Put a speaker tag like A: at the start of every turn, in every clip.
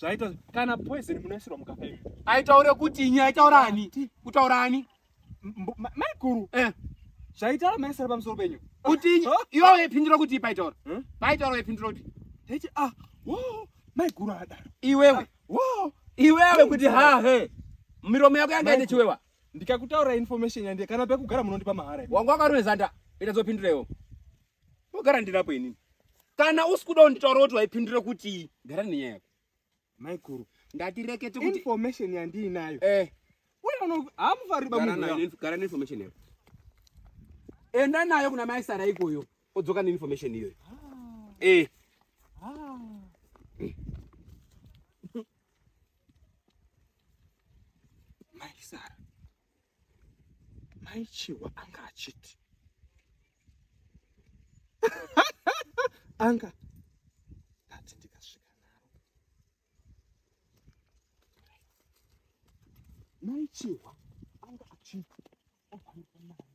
A: zvaita kana
B: poison munoisirwa mukaka imi aitaure kuti inye
A: aitaura ani kutaura ani Mbo- ma- maiguru
B: eh zvaitaura maisara pamusoro penyu kuti inye iwe
A: waipindura kuti paitaura Hmm? paitaura waipindura kuti taiti ah
B: wo maiguru adaro iwewe wo
A: iwewe kuti ha he miromo yako yanga ine chiwewa ndikakutaura
B: information yandie kana pekugara munondipa mahara imi. wanga wakarumezanda
A: ita dzopindura iwo Wogara ndinapo inini. Kana usikuda kunditaura kuti waipindura kuti gara nenyaya yako. Maikuru.
B: Ndati rekete
A: kuti information yandinayo.
B: Eh. Wewe uno hamufari ba munhu. Gara nayo, gara ne
A: information yako. Enda nayo kuna mai Sara ikoyo. Odzoka ne information iyoyo. Ah. Eh. Ah.
B: Mai Sara. mai chihwa anga achiti anga ndati ndikasvika naro mai chihwa anga achiti obanika mari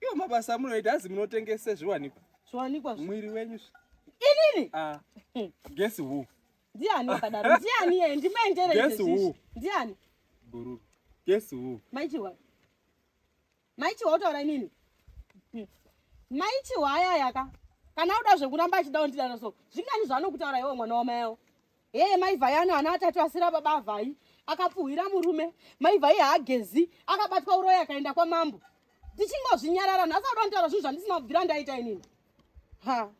B: Iyo mabasa amunoita azi munotengese zviwanikwa. Zviwanikwa zvi. Mwiri
C: wenyu.
B: Inini? Ah.
C: Hmm.
B: Guess who? Ndiani akadaro?
C: Ndiani yeye? Ndimaendere izvi. Guess who? Ndiani? Buru.
B: Guess who? Maichiwa.
C: Maichiwa utaura inini? Hmm. Maichiwa aya yaka. Kana uda zvekuramba achida undidaro so. Zvingani zvaanokutaura iwe mwana wamai yao. hee mai vhai ano ana atatu asira baba vhai akapfuhwira murume mai vhai haagezi akabatwa uroyi akaenda kwamambo ndichingozvinyarara nhasi auda nditaura zvinhu zvandisina kubvira ndaita inini ha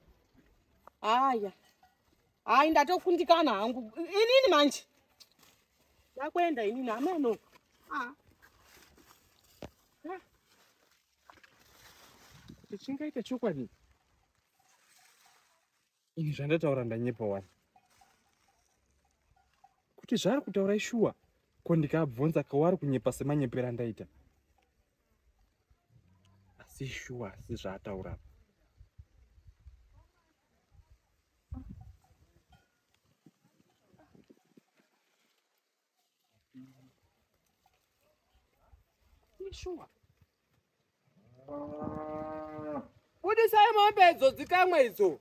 C: haya hayi ndatokundikana hangu inini manje ndakuenda inini ameno
B: ah. chingaita chokwadi Ini zvandataura ndanyepa wani. Kuti zvaari kutaura ishuwa ko ndikabvunza kawari kunyepa semanyepera ndaita. Asi shuwa asi zvaataura apa. Sure. Budisai mombe idzo dzikamwe idzo.